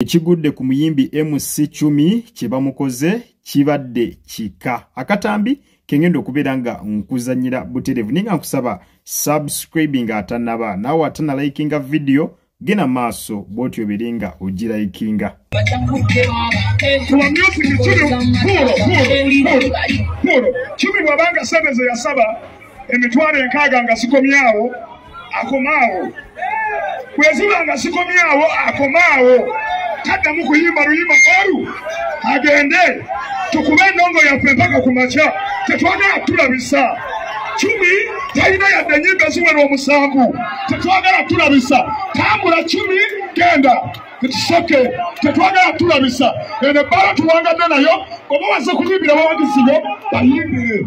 Ekigudde ku muyimbi MC Chumi kye bamukoze kibadde kika. Akatambi kengenda okubeera nga nkuzanyira buterevu naye nga nkusaba subscribing atanaba naawe atana likinga video gena maaso bwoti obeere nga ogirayikinga kumi bwabanga sente zeyasaba emitwalo enkaaga nga zikomyawo akomaawo bweziba nga zikomyawo akomaawo taddamu kuyimba luyimba olu agende tukube endongo yaffe mpaka ku makya tetwagala tulabisa cumi talina yadde enyimba eziwera omusanvu tetwagala tulabisa tambula cumi genda ekisoke tetwagala tulabisa eno ebbala tuwangadde nayo oba waze kuyimbira bawagiziyo bayimbire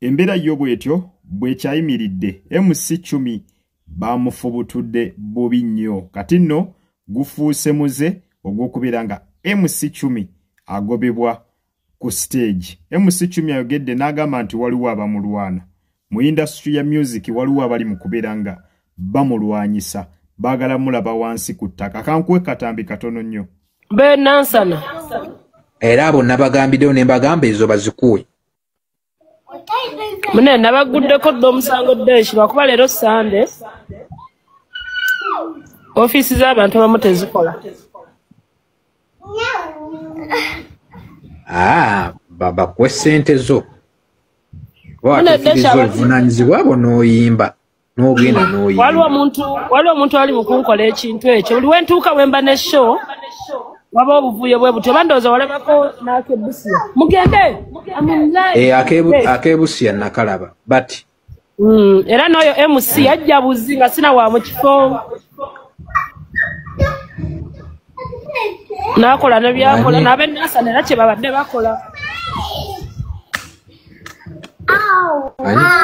embeera yo bwetyo bwekyayimiridde mc cumi bamufubutudde bubi nnyo kati nno gufuuse muze ogw'okubeera nga mc cumi agobebwa ku siteegi mc cumi ayogedde n'agamba nti waliwo abamulwana mu indasitry ya myuziki waliwo abali mu kubeera nga bamulwanyisa baagala mulaba wansi ku ttaka kankuwe katambi katono nnyo benansana era abo nabagambiddewo ne mbagamba ezo bazikuwe mune nabagguddeko dda omusango deshi lwakuba leero sande ofiisi z'abantu abamu tezikola ah, babakuwa essente zo oba watefirizza obuvunaanyizibwa bwo n'oyimba n'ogenda n'oyimba waliwo omuntu waliwo omuntu ali mu kunkola ekintu ekyo buli we ntuuka we mba ne show waba obuvuyo bwe butyo bandooza walabako n'akebusiya mugende eh, akebusiya nakalaba but hmm, era n'oyo mc ajja buzi nga sina wa mu kifo n'akola ne byakola n'abenasana era kye babadde bakola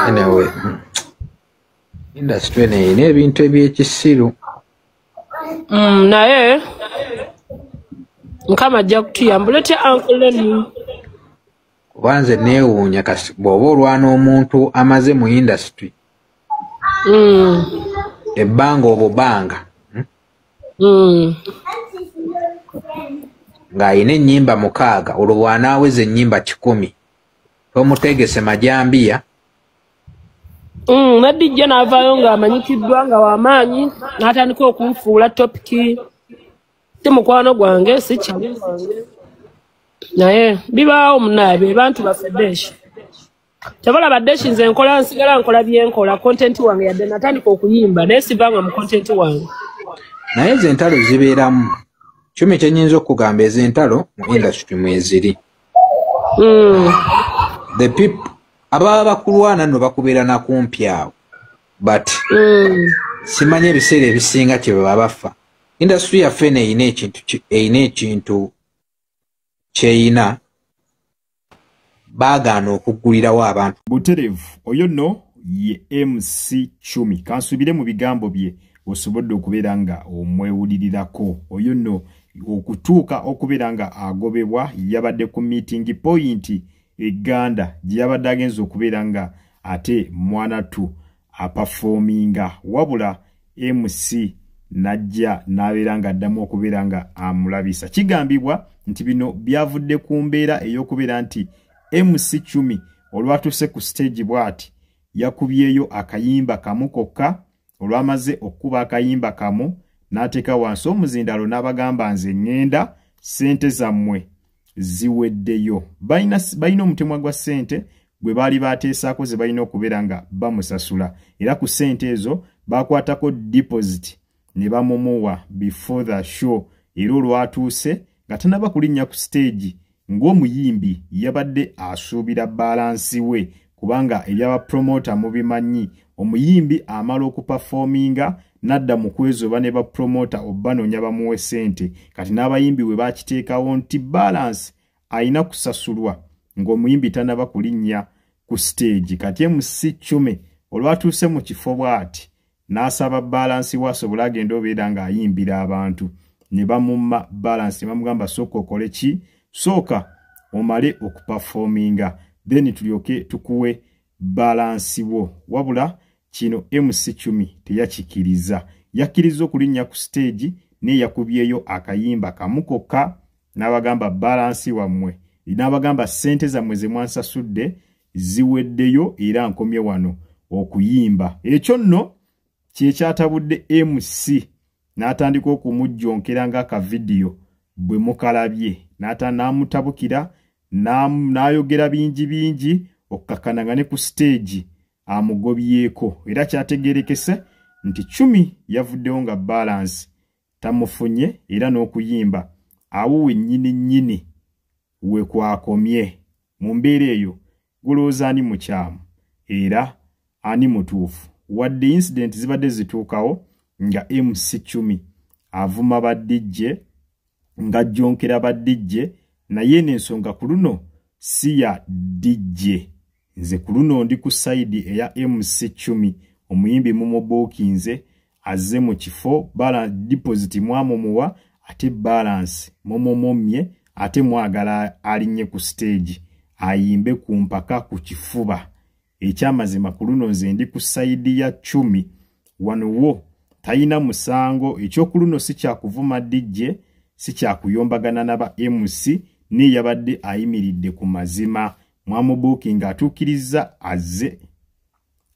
anyway industry eno erina ebintu ebyekisiru mm, naye mukama ajja kutuyambula otya ankuleni kuba nze neewuunya kasi bw'oba olwana omuntu amaze mu industry mm. ebbanga obubanga hmm. ng'alina ennyimba mukaaga olwo bw'anaaweza ennyimba kikumi tomutegese majambiya nadijja hmm, n'avaayo ng'amanyikiddwa nga w'amaanyi n'atandika okunfuula topiki ti mukwano gwange si kyange naye bibaawo munaabe bantu baffe beesha tebalaba deshi nze nkola nsigala nkola byenkola content wange yadde natandika okuyimba naye sivanga mu content wange naye ezo entalo zibeeramu kyumi kyenyinza okugamba ezo entalo mu industry mweziri mm. the people ababa bakulwana no bakubeera nakumpi awo but mm. simanyi ebiseera ebisinga kyebaba bafa industry yaffe eno erina ekintu kyeyina baagaana okuggulirawo abantu buterevu oyo no ye mc cumi kansuubire mu bigambo bye osobodde okubeera nga omwewulirirako oyo no okutuuka okubeera nga agobebwa yabadde ku meeting point eganda gye yabadde agenza okubeera nga ate mwanatu apafoominga wabula mc n'ajja n'abeera ng'addamu okubeera nga amulabisa kigambibwa nti bino byavudde ku mbeera ey'okubeera nti mc cumi olwatuuse ku siteegi bw'ati yakubyeyo akayimba kamu kokka olwamaze okukuba akayimba kamu n'ateeka wansi omuzindalo n'abagamba nze ŋŋenda ssente zammwe ziweddeyo balina omutemwa gwa ssente gwe baali baateesaako ze balina okubeera nga bamusasula era ku ssente ezo baakwatako dipositi ne bamumuwa before the show era olwatuuse nga tanaba kulinnya ku siteegi ng'omuyimbi yabadde asuubira baalansi we kubanga ebyaba promoter mubimanyi omuyimbi amala okupafominga nadda mu kwezoba ne bapromota obbanoonya bamuwe ssente kati n'abayimbi we bakiteekawo nti balansi alina kusasulwa ng'omuyimbi tanaba kulinnya ku siteegi kati emusi cume olwatuuse mu kifo bw'ati n'asaba baalansi we asobole agende obeera ng'ayimbira abantu ne bamumma baalansi ne bamugamba sooka okole ki sooka omale okupafoominga then tulyoke tukuwe baalansi wo wabula kino mc cumi teyakikiriza yakkirizza okulinnya ku siteegi naye yakubyeyo akayimba kamu kokka n'abagamba baalansi wammwe n'abagamba ssente zammwe ze mwansasudde ziweddeyo era nkomye wano okuyimba ekyo nno kyekyatabudde mc n'atandika okumujjonkera ng'akavidiyo bwe mukalabye n'ata n'amutabukira n'ayogera bingi bingi okukakana nga ne ku siteegi amugobyeko era kyategerekese nti cumi yavuddewo nga balansi tamufunye era n'okuyimba awo wennyini nnyini we kwakomye mu mbeera eyo gulowooza ani mukyamu era ani mutuufu wadde incidenti zibadde zituukawo nga mc cumi avuma badijje ng'ajjonkera badijje naye eno ensonga ku luno si ya dijje nze kuluno ndi ku side eya MC Chumi omuyimbi mumubuukinze azze mu kifo bala deposit mwamumuwa ate balance mumumumye ate mwagala alinye ku stage ayimbe ku mpaka ku kifuba ekyamazima kuluno nze ndi ku side ya Chumi wano wo tayina musango ekyokuluno si kyakuvuma DJ si kyakuyombagana na ba MC ni yabadde ayimiridde ku mazima mwamubuukinga atuukirizza azze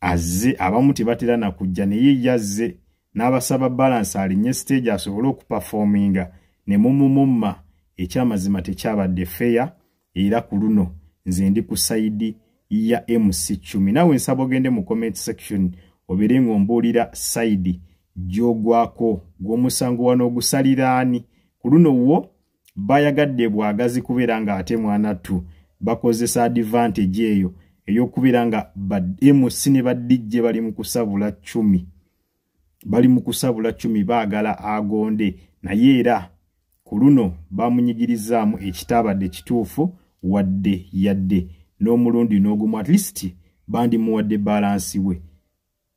azze abamu tebatera na kujja naye yazze n'abasaba balansi alinye siteegi asobole okupafoominga ne mumumumma ekyamazima tekyabadde feya era ku luno nze ndi ku sayidi ya mc cumi naawe nsaba ogende mu comment section obeere ng'ombuulira sayidi gy'ogwako gw'omusango wano ogusaliraani ku luno wo bayagadde bwagazi kubeera nga ate mwanattu bakozesa advantage eyo eyokubeera nga ba mc ne ba dj bali mu kusabula cumi bali mu kusabula cumi baagala agonde naye era ku luno bamunyigirizaamu ekitaabadde kituufu wadde yadde n'omulundi n'ogumu at least bandimuwadde balansi we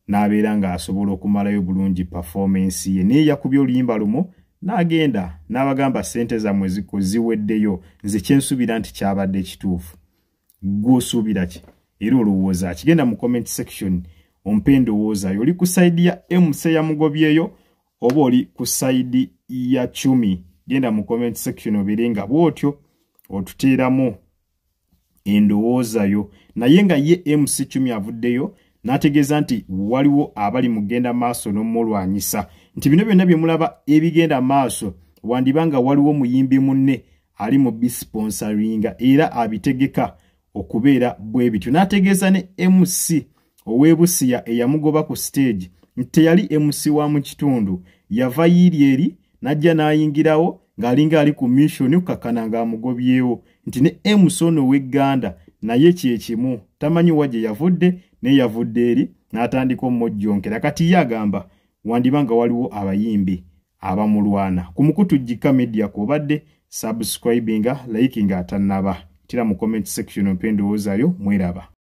n'abeera ng'asobola okumalayo bulungi pafoomensi ye naye yakubye oluyimba lumu n'agenda n'abagamba ssente zammwe ziko ziweddeyo nze kyensuubira nti kyabadde ekituufu gwosuubira ki era olowooza akigenda mu comment section ompa endowoozayo oli ku sayidi ya emusa yamugobyeyo oba oli ku sayidi ya cumi genda mu comment section obeere nga bw'otyo otuteeramu endowoozayo naye nga ye mc cumi avuddeyo n'ategeeza nti waliwo abali mugenda maaso n'omulwanyisa nti bino byonna bye mulaba ebigenda maaso wandiba nga waliwo muyimbi munne ali mu bisponsoringa era abitegeka okubeera bwe bityo n'ategeeza ne mc ow'e busiya eyamugoba ku siteegi nti teyali mc wa mu kitundu yava yiiri eri n'ajja n'ayingirawo ng'alinga ali ku missioni okukakkana ng'amugobyewo nti ne mc ono ow'e gganda naye kye kimu tamanyi wa gye yavudde naye yavudde eri n'atandika omumojjonkera kati ye agamba wandiba nga waliwo abayimbi abamulwana ku mukutu jjikka media kwobadde subscribinga likinga atannaba tira mu comment section ompa endowoozayo mweraba